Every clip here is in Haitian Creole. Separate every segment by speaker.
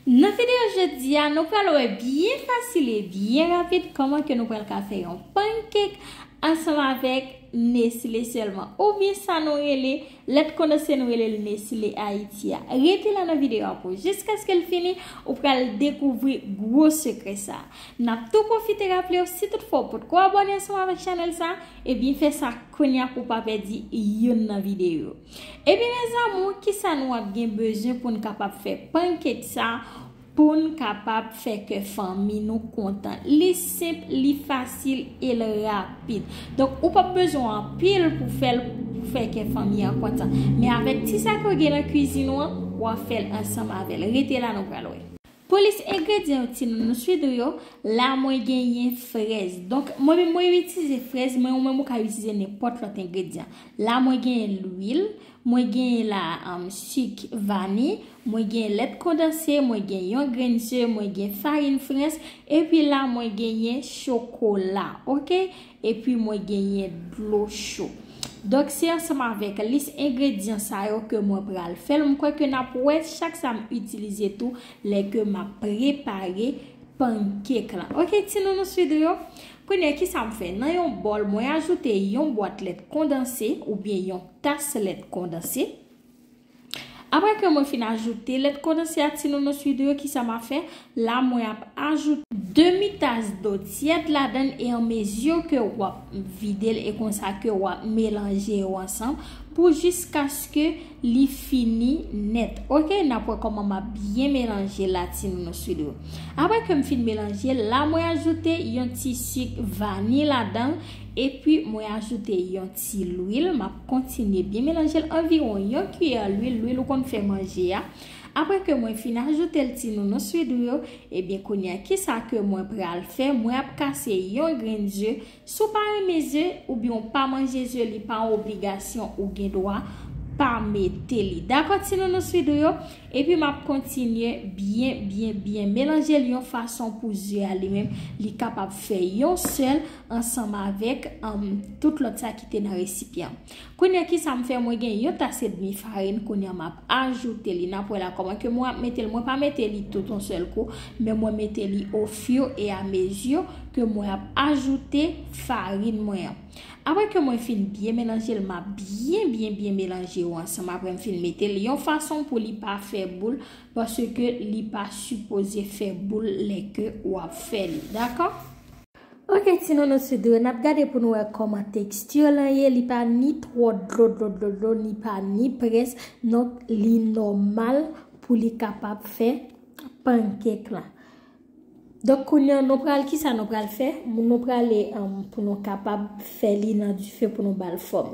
Speaker 1: Nan video jodi a nou pral wè byen fasil e byen rapid kòman ke nou pral ka fè yon pancake ansanm avèk nesile sèlman ou byen sa nou rele lèt kondanse nou rele l nesile ayiti a. Rete la nan video a pou jiskaske l fini ou pral dekouvri gwo sekrè sa. Nap tou pwofite raple w si tout fwa ou potko abòne ansanm avèk chanèl sa ebyen fè sa kounya pou w pa pèdi youn nan video. Ebyen mes amour kisa nou ap gen bezwen poun kapab fè pancake sa poun kapab fè kè fanmi nou kontan li senp li fasil el rapid donk ou pap bezwen anpil pou fèl pou fè kè fanmi an kontan men avèk ti sa ke ou gen nan kwizin ou an wap fèl ansanm avèl rete la nou pral wè. Pou lis engredyan yo timoun nou swidr yo, la mwen genyen frèz. Donk mwen menm mwen itize frèz men ou menm ou ka itize nenpòt lòt engredyan. La mwen genyen lwil, mwen genyen la sik vani, mwen genyen lèt kondanse, mwen gen yon grenn ze, mwen gen farin frens, epi la mwen genyen chokola. Ok, Epi mwen genyen dlo cho. Donk se ansanm avèk lis engredyan sa yo ke mwen pral fèl. M kwè ke n ap wè chak sa m itilize tou lè ke m ap prepare pankek lan. Ok ti nounou sweet yo. Kounye ki sa m fè? Nan yon bòl mwen ajoute yon bwat lèt kondanse oubyen yon tas lèt kondanse. Aprè ke mwen fin ajoute lèt kondanse ak ti nounous widoo yo kisa ma fè? La mwen ap ajoute. Demi tas dlo tyèd ladann e an mezi ke wap videl e konsa ke wap melanje yo ansanm pou jiskaske li fini nèt ok nap wè kòman map byen melanje la ti nounous widoo. Aprè kem fin melanje la mwen ajoute yon ti sik vani ladanl epi mwen ajoute yon. ti lwil map kontinye byen melanjel anviwon yon kiyè lwil lwil ou konn fè manje a aprè ke mwen fin ajoutel ti nounous widou yo ebyen kounya kisa ke mwen pral fè mwen ap kase yon grenn ze si w pa renmen ze oubyen w pa manje ze li pa yon obligasyon ou gen dwa pa mete li dakò ti nounous widou yo epi map kontinye byen byen byen melanjel yon fason pou ze a li menm li kapab fè yon sèl ansanm avèk tout lòt sa ki te nan resipyan. Kounya kisa m fè mwen gen yon tas edmi farin kounya m ap ajoute li n ap wè la kòman ke mwen ap mete l mwen pa mete li tout yon sèl kou men mwen mete li o fiyo e a meziyo ke mwen ap ajoute farin mwen an. Apre ke mwen fin byen melanje l m ap byen byen byen melanje yo ansanm apre m fin mete l yon fason pou li pa fè boul paske li pa sipoze fè boul lè ke w ap fè li dakò. Ok ti nono su dlo nap gade pou nou wè kòman texture lan ye li pa ni twò dlo dlo dlo dlo ni pa ni près donk li nòmal pou li kapab fè pancake lan donk kounye an nou pral kisa nou pral fè nou prale pou nou kapab fè li nan dife pou nou bal fòm.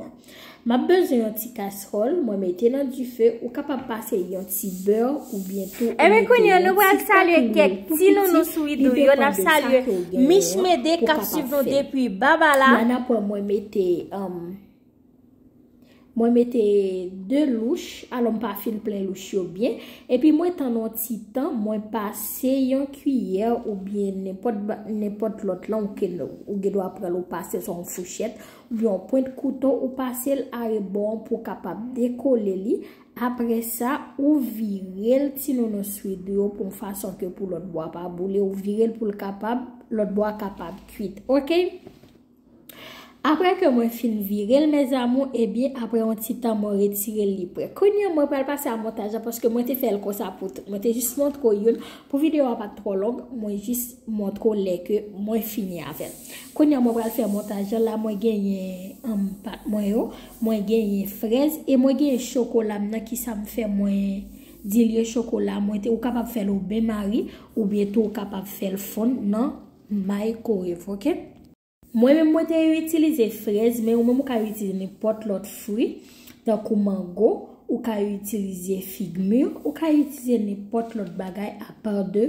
Speaker 1: Map bezwen yon ti kasròl mwen mete nan dife ou kapab pase yon ti bè ou byen tou ou mete yon ti fè
Speaker 2: koulye pou piti li depan de sa ke ou gen yon pou kapab fè.
Speaker 1: Mwen mete 2 louch alò m pa fin plen louch yo byen epi mwen tann yon ti tan mwen pase yon kiyè ou byen nenpòt lòt lan ou gen dwa pran l ou pase l sou yon fouchèt. Yon pwent kouto ou pasel arebò an pou kapab dekole li, apresa ou virel ti nounou swid yo pou fason ke pou lòt bò a pa boule ou virel poul kapab lòt bò a kapab kwit ok. Aprè ke mwen fin virel mes amour ebyen aprè yon ti tan mwen retirel li prè. Kounya mwen pral pase a montaj la paske mwen te fèl konsa pou tout. Mwen te jis montre w youn pou video a pat twò long mwen jis montre w lè ke mwen fini avèl. Kounya mwen pral fè montaj lan la mwen genyen humm pat mwen yo mwen genyen frèz e mwen genyen chokolam nan kisam fè mwen dilye chokola mwen te ou kapab fèl au bain marie oubyen tou ou kapab fèl fonn nan microwave ok. Mwen menm mwen te itilize frèz men ou menm ou ka itilize nenpòt lòt fwi tankou mango ou ka itilize fig mur ou ka itilize nenpòt lòt bagay a part de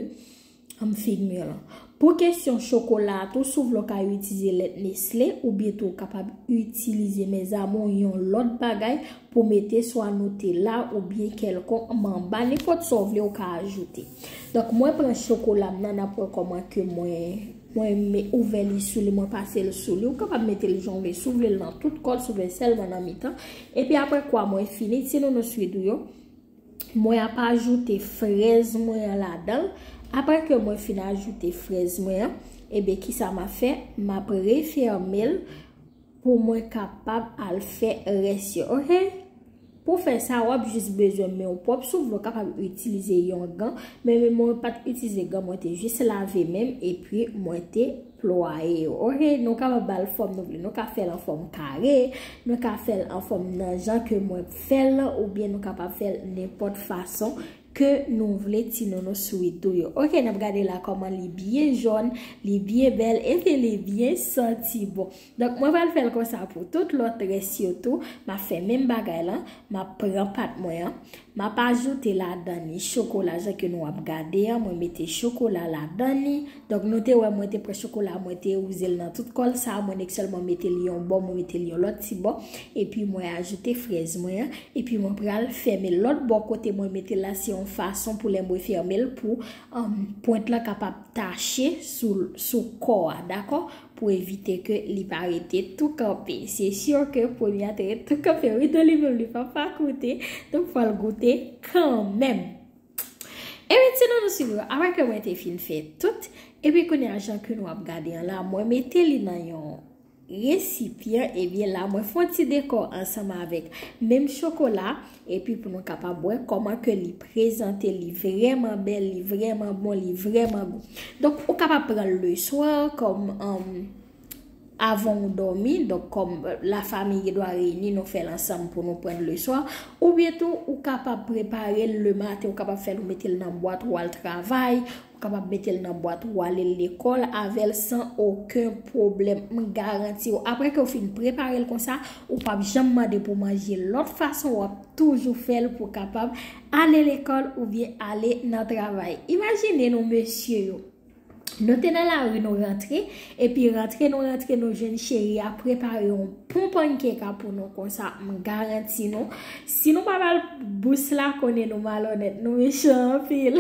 Speaker 1: An figmur lan. Pou kesyon chokola a tou sou vle w ka itiize lèt nestle ou byen tou w kapab itilize mes amour yon lòt bagay pou mete swa nutella ou byen kèlkon manba nenpòt sa w vle ou ka ajoute. Donk mwen pran chokola m nan n ap wè kòman ke mwen mwen me ouvè li sou li mwen pase l sou li ou kapab mete l jan w vle si w vle l nan tout kò l si w vle l sèlman nan mitan epi aprè kwa mwen fini ti nounous ui dou yo Mwen
Speaker 2: ap ajoute frèz mwen an ladan l. Aprè ke mwen fin ajoute frèz mwen an, ebyen kisa m ap fè? M ap refèmen l pou mwen kapab al fè rès yo, ok. Pou fè sa, w ap jis bezwen men w pwòp, sof lè w kapab itilize yon gan, men mwen pat itilize gan, mwen te jis lave men m epi mwen te Plwaye yo ok nou kapab bal fòm nou vle nou ka fèl an fòm kare nou ka fèl an fòm nan jan ke mwen fèl lan oubyen nou kapab fèl nenpòt fason ke nou vle ti nounou sweet ou yo ok nap gade la kòman li byen jòn li byen bèl epi li byen santi bon Donk mwen pral fèl konsa pou tout lòt rès yo tou, map fè menm bagay lan, map pran pat mwen an, map ajoute ladan ni chokola jan ke nou ap gade an, mwen mete chokola ladan ni, donk nou te wè mwen te pran chokola mwen te wouzel nan tout kòl sa, mwen nèk sèlman metel yon bò mwen metel yon lòt ti bò, epi mwen ajoute frèz mwen an, epi mwen pral fèmel lòt bò kote mwen metel la se yon fason pou lè mwen fèmel pou pwent lan kapab tache sou kò a dakò. Pou evite ke li pa rete tou kanpe. Se sûr ke premye a te ret tou kanpe wi don li menm li pa pa goute donk fòl goute kanmenm. Ebyen ti don nou swiv yo apre ke mwen te fin fè tout epi kounye a jan ke nou ap gade an la mwen mete li nan yon resipyan ebyen la mwen fon ti dekò ansanm avèk menm chokola. Epi pou nou kapab wè kòman ke li prezante, li vrèman bèl, li vrèman bon, li vrèman gou. Donk, ou kapab pran l le swa, kòm avan ou dòmi, donk kòm la fami gen dwa reyini, nou fè l ansanm pou nou pran l le swa. Oubyen tou, ou kapab prepare l le maten, ou kapab fè l ou mete l nan bwat ou al travay, Ou kapab metel nan bwat ou alel lekol avel san oken pwoblem m garantiw apre kew fin preparel konsa ou pap janm mande pou manje lot fason wap toujou fel pou kapab ale lekol oubyen ale nan travay imajine nou mesye yo nou te nan lari nou rantre epi rantre nou rantre nou jwenn cheri a prepare yon pon pankeka pou nou konsa m garanti nou si nou pa bal bous la konnen nou malonet nou mechan anpil.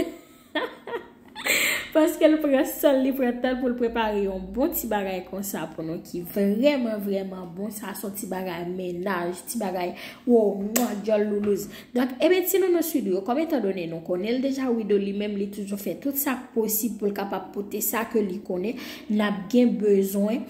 Speaker 2: Paske l pran san l, li pran tan l pou l prepare yon bon ti bagay konsa pou nou ki vrèman vrèman bon. Sa son ti bagay mennaj, ti bagay wou mwa dyòl loulouz. Donk, ebyen ti nounous Widoo yo, kòm etan done nou konnen l deja, Widoo li menm li toujou fè tout sa k posib pou l kapab pote sa ke li konnen n ap gen bezwen.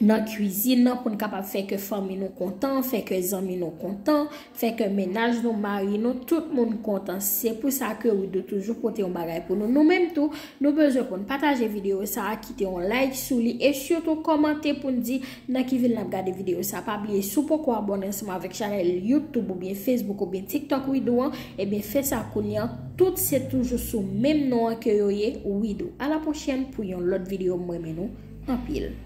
Speaker 2: nan kwizin nan pou n kapab fè kè fanmi nou kontan, fè kè zanmi nou kontan, fè kè mennaj nou, mari nou, tout moun kontan. Se pou sa ke Widoo toujou pote yon bagay pou nou. Nou menm tou, nou bezwen pou n pataje videyo sa a, kite yon like sou li, e sitou kòmante pou n di nan ki vil n ap gade videyo sa a. Pa bliye, si w poko abòne ansanm avèk chanèl YouTube oubyen Facebook oubyen TikTok Widoo an, ebyen fè sa kounye an. Tout se toujou sou menm non an ke yo ye, Widoo. A la pwochèn pou yon lòt videyo, m renmen nou anpil.